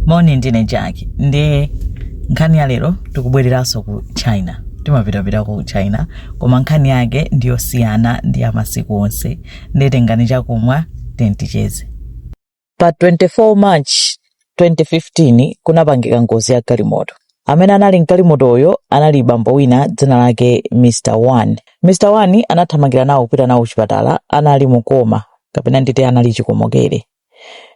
moni ndine jackie ndi nkhani ya lero tikubwereranso ku china timapitapita ku china koma nkhani yake ndiyosiyana ndi ya masiku onse nde tengani chakumwa tiyeni ticheze pa 24 march 2015 kunapangika ngozi ya galimoto amene anali mgalimotoyo anali bambo wina dzina lake mr one mr one anathamangira nawo kupita nawo kuchipatala anali mu coma kapena nditi anali chikomokere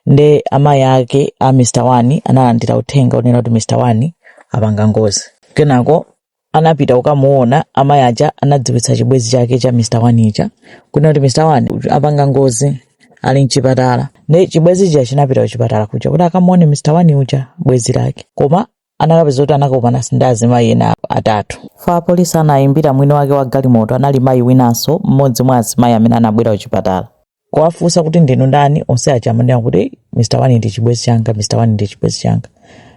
nde amayi ake a Mr One analandira uthenga onena kuti Mr One apanga ngozi kenako anapita kukamuona amayi aja anadziwitsa chibwezi chake cha Mr One uja kunena kuti Mr One apanga ngozi ali mchipatala nde chibwezi chija chinapita kuchipatala kuja kuti akamuone Mr One uja bwezi lake koma anakapeza kuti anakakumananso ndi azimayi ena atatu. Chifukwa apolisi anaimbira mwini wake wa galimoto anali mayi winanso, mmodzi mwa azimayi amene anabwera kuchipatala. kuwafunsa kuti ndinu ndani, onse aja amanena kuti Mr. One ndi chibwenzi changa, Mr. One ndi chibwenzi changa.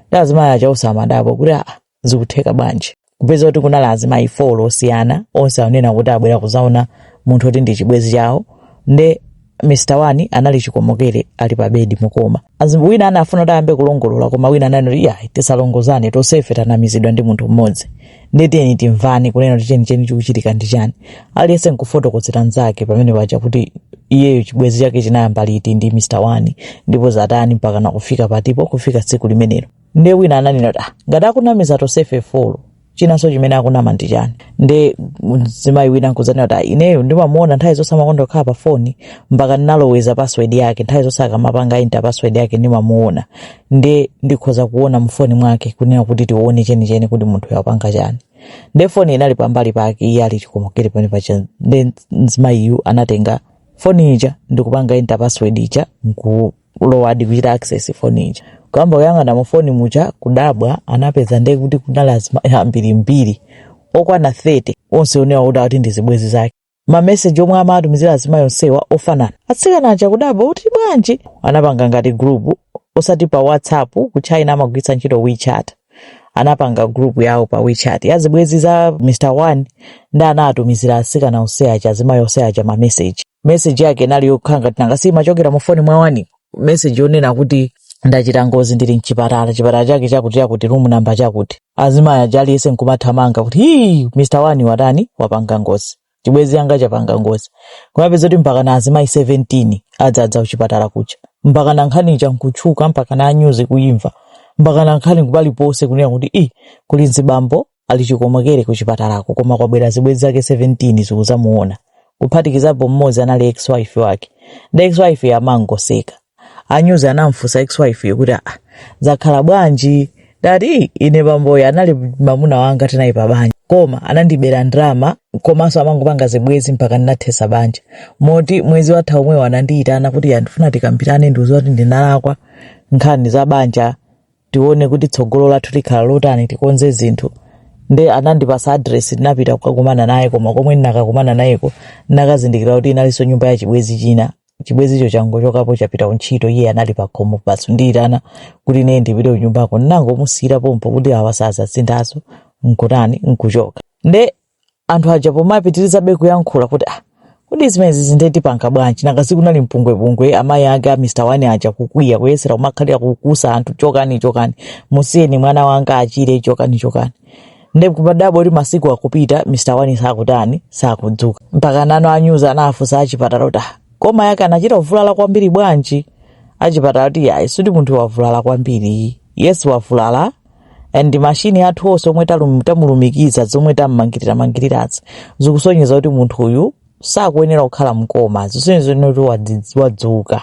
Nde azimayi aja onse amadabwa kuti aa zikutheka bwanji. kupeza kuti kunali azimayi folo osiyana onse anena kuti abwera kuzaona munthu oti ndi chibwezi chawo nde mr one anali chikomokere ali pa bedi mu coma As- wina anafuna kuti ayambe kulongolola koma wina ananena kuti yayi tisalongolozane tonsefe tanamizidwa ndi munthu mmodzi nde tiyeni timvane kunena kuti chenicheni chikuchitika ndi chani aliyense nkufotokozera mnzake pamene paja kuti iyeyo chibwezi chake chinayamba liti ndi mr one ndipo zatani mpakana kufika patipo kufika tsiku limenelo nde wina ananena kuti ah, ngati akunamiza tonsefe folo chinanso chimene akunama ndi chani nde mzimayi wina nkuzanena kuti "Ah, ineyo ndimamuona nthawi zonse amakonda kukhala pa foni mpaka ndinaloweza password yake nthawi zonse akamapanga enter password yake ndimamuona nde ndikhoza kuona mufoni mwake kunena kuti tione chenicheni kuti munthuyu apanga chani nde foni inali pambali pake iye ali chikomokere pamene paja nde mzimayiyu anatenga foni ija ndikupanga enter password ija nku kulowadi kuchita access foni ija kuyamba kuyang'ana mu foni muja kudabwa anapeza nde kuti kunali azimayi ambirimbiri okwana 30 onse onena kuti akuti ndi zibwenzi zake mameseji omwe amatumizira azimayi onsewa ofanana atsikana aja kudabwa kuti bwanji anapanga ngati group osati pa whatsapp ku china amagwiritsa ntchito wechat anapanga group yawo pa wechat ya zibwenzi za mr one nde anatumizira atsikana onse aja azimayi onse aja mameseji meseji yake inali yokhala ngati nanga si imachokera mu foni mwa one meseji yonena kuti ndachita ngozi ndili mchipatala chipatala chake chakuti chakuti room number chakuti azimayi aja aliyense nkumathamanga kuti hii mr one watani wapanga ngozi chibwezi changa chapanga ngozi kumapeza kuti mpakana azimayi 17 adzadza kuchipatala kuja mpakana nkhani ija nkutchuka mpakana a nyuzi kuyimva mpakana nkhani kupaliponse kunena kuti i kuli mzibambo ali chikomokere ku chipatalako koma kwabwera zibwenzi zake 17 zikuzamuona kuphatikizapo mmodzi anali ex-wife wake nde ex-wife amangoseka anyuzi anamufunsa ex-wife kuti "Ah, zakhala bwanji dati ine bamboyo anali mamuna wanga tinali pa banja koma anandibera ndalama komanso amangopanga zibwenzi mpaka ndinathesa banja moti mwezi watha omwewu anandiyitana kuti ndifuna tikambirane undiuze kuti ndinalakwa nkhani za banja tione kuti tsogolo lathu likhala lotani tikonze zinthu nde anandipasa adresi ndinapita kukakumana naye koma komwe ndinakakumana nayeko ndinakazindikira kuti inalinso nyumba ya chibwezi china chibwezicho changochokapo chapita kuntchito iye anali pakhomo basi nkundiyitana kuti ine ndipite kunyumbako ndinangomusiyira pompo kuti awa sazasinthanso nkutani nkuchoka nde anthu aja pomapitirizabe kuyankhula kuti ah, kodi zimenezi nde tipanga bwanji nanga sikunali mpungwepungwe amayi ake a mr wani aja kukwiya kuyesera kumakalipa kukusa anthu chokani chokani musiyeni mwana wanga achire chokani chokani nde kumadabwa kuti masiku akupita mr wani sakutani sakudzuka mpaka nano anyuzi anafunsa achipatala kuti "Ah, koma yake anachita kuvulala kwambiri bwanji achipatala kuti yayi sikuti munthu wavulala kwambiri yes wavulala and mashini athu onse omwe talum- tamulumikiza zomwe tammangirira-mangirirazi zikusonyeza kuti munthu uyu sakuyenera kukhala mkoma zisonyeza kuti wadzi- wadzuka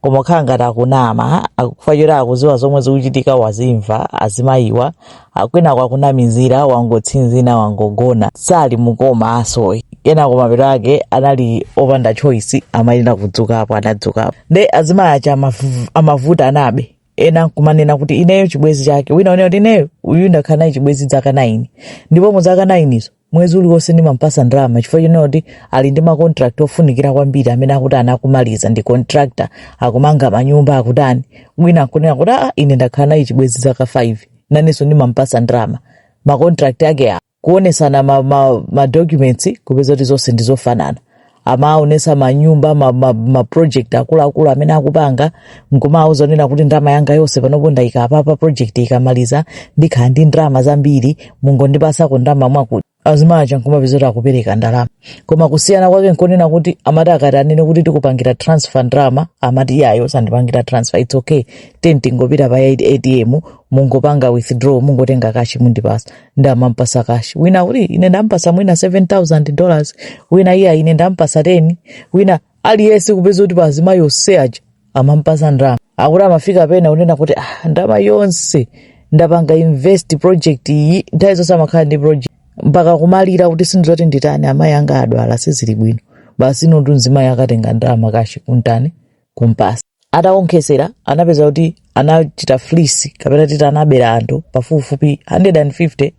koma kukhala ngati akunama chifukwa choti akuziwa zomwe zikuchitika wawamva azimayiwa akubwerako akunamizira wangotsinzina wangogona sali mkoma ayi kenako mapeto ake anali opanda choice amayenera kudzukapo anadzukapo nde azimayi aja amavu- amavutanabe ena nkumanena kuti ineyo chibwezi chake wina unena kuti ineyo uyu ndakhala naye chibwezi dzaka naini ndipo mu dzaka nainizo mwezi uliwonse ndimampasa ndalama chifukwa chonena kuti ali ndi makontrakt ofunikira kwambiri amene akuti anakamaliza ndi contractor akumanga manyumba akutani wina nkunena kuti aa ine ndakhala naye chibwezi dzaka 5 nanenso ndimampasa ndalama makontrakt ake awo kuonesana ma, ma, ma documents kupeza kuti zonse ndi zofanana amaonesa manyumba ma, ma, ma project akuluakulu amene akupanga nkumawauza zonena kuti ndalama yanga yonse panopo ndayika apapa project ikamaliza ndikhala ndi ndalama zambiri mungondipasako ndalama mwakuti azimayi aja nkumapeza kuti akupereka ndalama koma kusiyana kwake nkonena kuti amati akati anene kuti tikupangira transfer ndalama amati iyayi musandipangire transfer its okay then tingopita pa atm mungopanga withdraw mungotenga kashi mundipasa ndamampatsa kashi wina uli ine ndampasa mwina 7000 dollars wina iya ine ndampasa 10 wina aliyense kupeza kuti pazimayi onse aja amampasa ndalama akuti amafika pena unena kuti ah, ndalama yonse ndapanga invest project iyi nthawi zonse amakhala ndi project mpaka kumalira kuti sindiziwa kuti nditani amayi anga adwala sizili bwino basi iyetu mzimayi akatenga ndalama kashi kuntani kumpasa Atawonkhetsera anapeza kuti anachita fleece kapena titi anabera anthu pafupifupi 150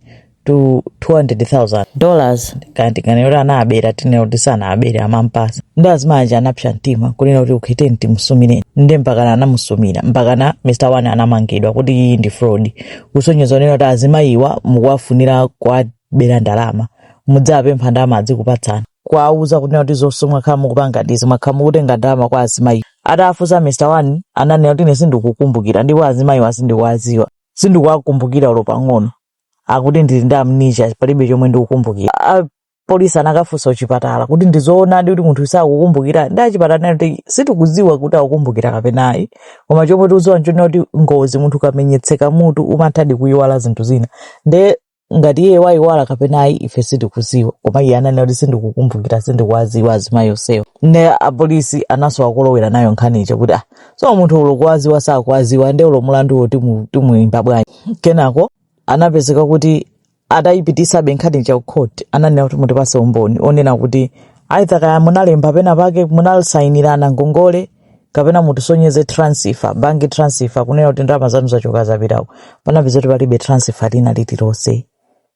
to 200,000 dollars kaya tinganene kuti anabera tinene kuti sanabere amampasa ndi azimayi anapsa mtima kunena kuti ukhiteni timusumire nde mpakana anamusumira mpakana mr one anamangidwa kuti iyi ndi fraud kusonyeza kunena kuti azimayiwa mukuwafunira kuwabera ndalama mudzapempha ndalama adzikupatsani kuwauza kunena kuti zonse mwakhala mukupanga ndizi mwakhala mukutenga ndalama kwa azimayi atafunsa mr one ananena kuti ine sindikukumbukira ndipo azimayiwa sindikuwadziwa sindikuwakumbukira ulo pang'ono akuti ndili ndi amnesia palibe chomwe ndikukumbukira A- polisi anakafunsa kuchipatala kuti ndizoonadi kuti munthu sakukumbukira ndi achipatala ananena kuti sitikudziwa kuti akukumbukira kapena ayi koma chomwe tikudziwa nchonena kuti ngozi munthu ukamenyetseka mutu umathadi kuyiwala zinthu zina nde ngati iye wayiwala kapena ayi ife sitikuziwa koma iye ananena kuti sindikukumbukira sindikuwaziwa azimayi onsewo ne apolisi anaso akolowera nayo nkhani ija kuti ah so munthu ulo kuwaziwa sakuwaziwa nde ulo mulanduwo timu- timuyimba bwanji kenako anapezeka kuti atayipitisabe nkhani ija ku court ananena kuti mutipase umboni onena kuti aitha kaya munalemba pena pake munasayinirana ngongole kapena mutisonyeze transfer bank transfer kunena kuti ndalama zanu zachoka zapitako panapeza kuti palibe transfer lina lililonse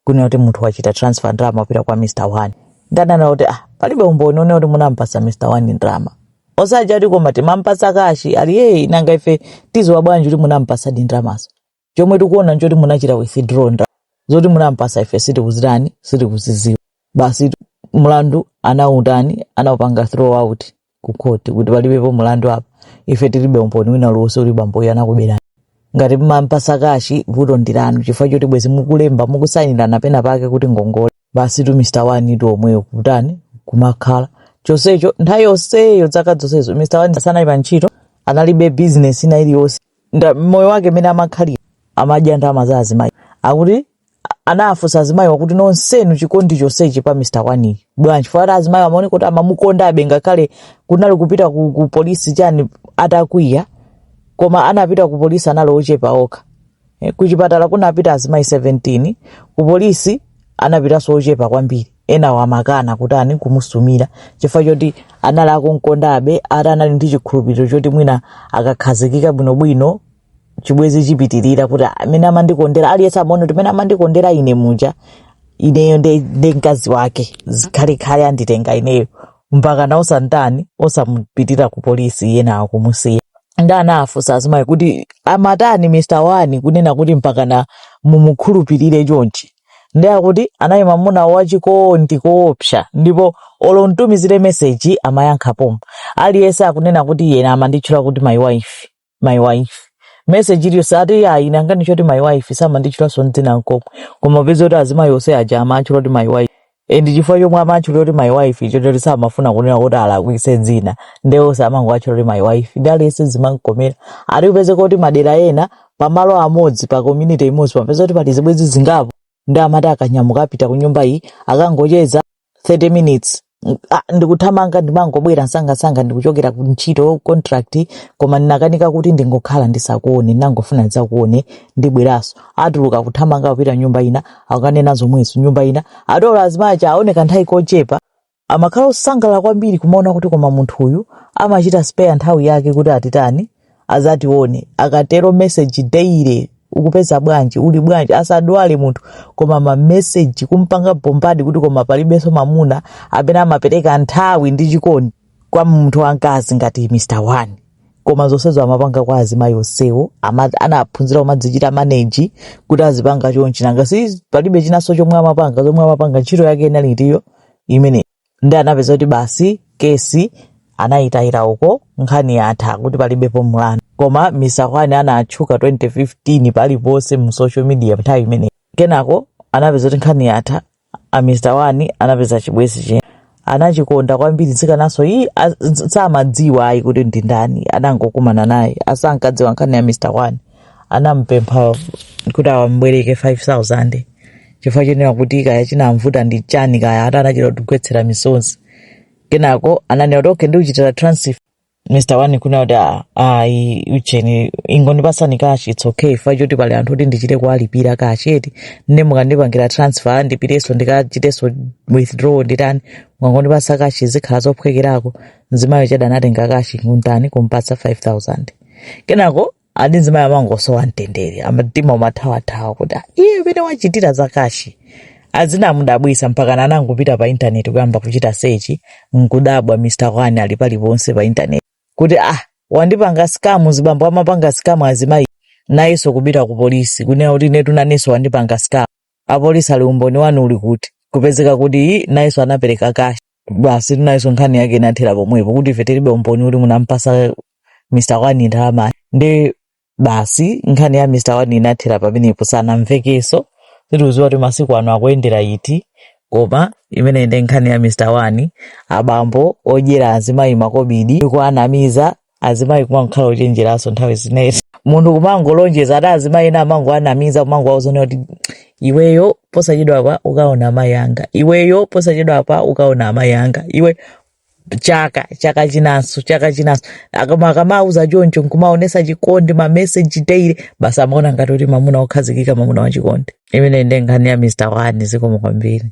kunena kuti munthu wachita transfer ndalama kupita kwa mr one ndanena kuti ah palibe umboni onena kuti munampasa mr one ndalama osaja kuti koma timampasa kashi ali yeyi nanga ife tiziwa bwanji kuti munampasa ndi ndalamazo chomwe tikuona nchoti munachita withdraw ndalama zoti munampasa ife sitikuzitani sitikuziziwa basi tu- mlandu anautani anaupanga throw out ku court kuti palibepo mlandu apa ife tilibe umboni wina uliwonse uli bamboyo anakuberani ngati mumampasa kashi vuto ndilanu chifukwa choti bwezi mukulemba mukusayinirana pena pake kuti ngongole basi tu mr wani tu omweyo kutani kumakhala chonsecho nthawi yonseyo dzaka zonsezo mr wani sanali pa ntchito analibe bizinesi ina iliyonse nda- moyo wake mmene amakhalira amadya ndalama za azimayi akuti anafunsa azimayiwa kuti nonsenu chikondi chonsechi pa mr wani bwanji chifukwa ati azimayi amaoneka kuti amamukondabe ngakhale kunali kupita ku, ku polisi chani atakwiya koma anapita ku polisi anali ochepa okha Eh, ku chipatala kunapita azimayi 17 ku polisi anapitanso ochepa kwambiri enawo amakana kutani kumusumira chifukwa choti anali akunkondabe ati anali ndi chikhulupiriro choti mwina akakhazikika bwinobwino chibwezi chipitirira kuti amene amandikondera aliyense amaona kuti amene amandikondera ine muja ineyo ndi ndi mkazi wake zikhalekhale anditenga ineyo mpakana osatani osamupitira ku polisi enawo kumusiya ndi anafunsa azimayi kuti amatani mr wani kunena kuti mpakana mumukhulupirire chonchi ndi akuti anali mwamuna wachikondi koopsa ndipo olo umtumizire meseji amayankha pompo aliyense akunena kuti iye amanditchula kuti my wife my wife meseji iliyonse ati ayi ine amanditchula my wife samanditchulanso dzina nkomwe koma kupeza kuti azimayi onse aja amatchula kuti my wife e ndichifukwa chomwe amatchulira kuti my wife chotero samafuna kunena kuti alakwise dzina nde onse amangowatchula kuti my wife ndi aliyense zimamkomera ati kupezeka kuti madera ena pamalo amodzi pa community imodzi pamapezeka kuti pali zibwenzi zingapo ndi amati akanyamuka apita ku nyumba iyi akangocheza 30 minutes mm, ah, ndikuthamanga ndimangobwera msangamsanga ndikuchokera ku ntchito contract koma ndinakanika kuti ndingokhala ndisakuone ndinangofuna ndidzakuone ndibweranso atuluka kuthamanga kupita nyumba ina akanena zomwezo nyumba ina ndiye azimayi aja aoneka nthawi kochepa amakhala osangalala kwambiri kumaona kuti koma munthu uyu amachita spare nthawi yake kuti atitani adzatione akatero message daily ukupeza bwanji uli bwanji asadwale munthu koma mameseji kumpanga bombadi kuti koma palibenso mamuna amene amapereka nthawi ndi chikondi kwa munthu wamkazi ngati mr wani koma zonsezo amapanga kwa azimayi onsewo ama- anaphunzira kumadzichita maneji kuti azipanga chonchi nanga si palibe chinanso chomwe amapanga zomwe amapanga ntchito yake inali ndi yo imene ndi anapeza kuti basi kesi anayitayira uko nkhani yatha kuti palibepo mlandu koma mr wani anatchuka 2015 paliponse mu social media nthawi imeneyi kenako anapeza kuti nkhani yatha a mr wani anapeza chibwezi che anachikonda kwambiri mtsikanaso iyi a- s- samadziwa ayi kuti ndi ndani adangokumana naye asankadziwa nkhani ya mr wani anampempha kuti awambwereke 5000 chifukwa chonena kuti kaya chinamvuta ndi chani kaya ati anachita kugwetsera misonzi kenako ananena kuti okay ndikuchitira transfer mr wani kunena kuti "Ah, ayi ucheni ingondipasani kashi its okay chifukwa choti pali anthu oti ndichite kuwalipira kashi eti nde mukandipangira transfer ndipiteso ndikachiteso withdraw nditani mukangondipasa kashi zikhala zophwekerako mzimayi uja anatenga kashi kuntani kumpatsa 5000 kenako ati mzimayi amangosowa mtendere mtima umathawathawa kuti "Ah, iye bwanji wachitira za kashi zinamudabwisa mpaka anangopita pa intaneti kuyamba kuchita sechi nkudabwa mr wani ali paliponse pa intaneti kuti ah wandipanga skamu mzibambo amapanga skamu azimayi nayenso kupita ku polisi kunena kuti inetu nanenso wandipanga skamu apolisi ati umboni wanu uli kuti kupezeka kuti "Ii, nayenso anapereka kashi basi nayenso nkhani yake inathera pomwepo kuti ife tilibe umboni kuti munampasa mr wani ndalama ndi basi nkhani ya mr wani inathera pamenepo sanamvekenso sitikuziwa kuti masiku ano akuyendera iti koma imene ndi nkhani ya mr wani abambo odyera azimayi makobidi ndikuanamiza azimayi kumakhala ochenjeranso nthawi zinezi munthu kumangolonjeza ati azimayi ena amangoanamiza kumangowauza kuti iweyo posachedwapa ukaona amayi anga iweyo posachedwapa ukaona amayi anga iwe chaka chaka chinanso chaka chinanso akama akamauza choncho nkumaonesa chikondi mameseji daily basi amaona ngati kuti mamuna okhazikika mamuna wachikondi imeneyo nde nkhani ya mr wani zikomo kwambiri